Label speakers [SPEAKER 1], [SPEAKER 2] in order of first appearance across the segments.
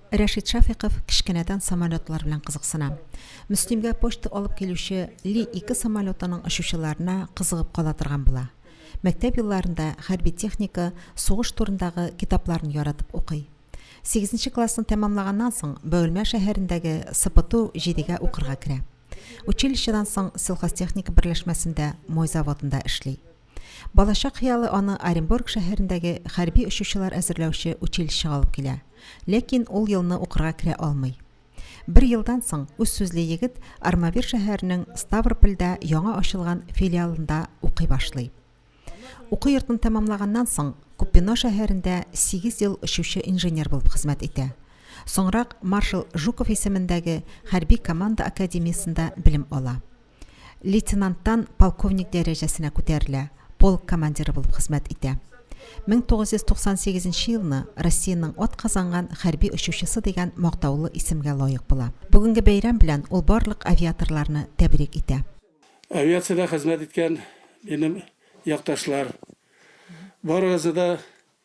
[SPEAKER 1] Рәшит Шафиков кечкенәдән самолетлар белән кызыксына. Мөслимгә почта алып килүче Ли-2 самолетының очучыларына кызыгып кала торган була. Мәктәп елларында хәрби техника, сугыш турындагы китапларны яратып укый. Сигезенче классны тәмамлаганнан соң, Бөгелмә шәһәрендәге СПТУ 7-гә укырга керә. Училищедан соң сельхозтехника берләшмәсендә мой заводында эшли. Балачак хыялы аны Оренбург шәһәрендәге хәрби очучылар әзерләүче училищега алып килә. Ләкин ул елны укырга керә алмый. Бер елдан соң үз сүзле егет Армавир шәһәренең Ставропольдә яңа ачылган филиалында укый башлый. Уку йортын тәмамлаганнан соң, Купино шәһәрендә сигез ел очучы инженер булып хезмәт итә. Соңрак маршал Жуков исемендәге хәрби команда академиясендә белем ала. Лейтенанттан полковник дәрәҗәсенә күтәрелә, полк командиры булып хезмәт итә. 1998 нче елны Россиянең атказанган хәрби очучысы дигән мактаулы исемгә лаек була. Бүгенге бәйрәм белән ул барлык авиаторларны тәбрик итә. Авиациядә
[SPEAKER 2] хезмәт иткән минем якташлар, барыгызны да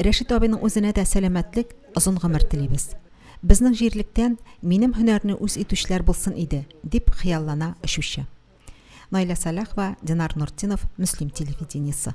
[SPEAKER 2] Рәшит абыйның
[SPEAKER 1] үзенә дә сәламәтлек, озын гомер телибез. Безнең җирлектән минем һөнәрне үз итүчеләр булсын иде, дип хыяллана очучы. Наилә Саляхова, Динар Нуртдинов, Мөслим телевидениесе.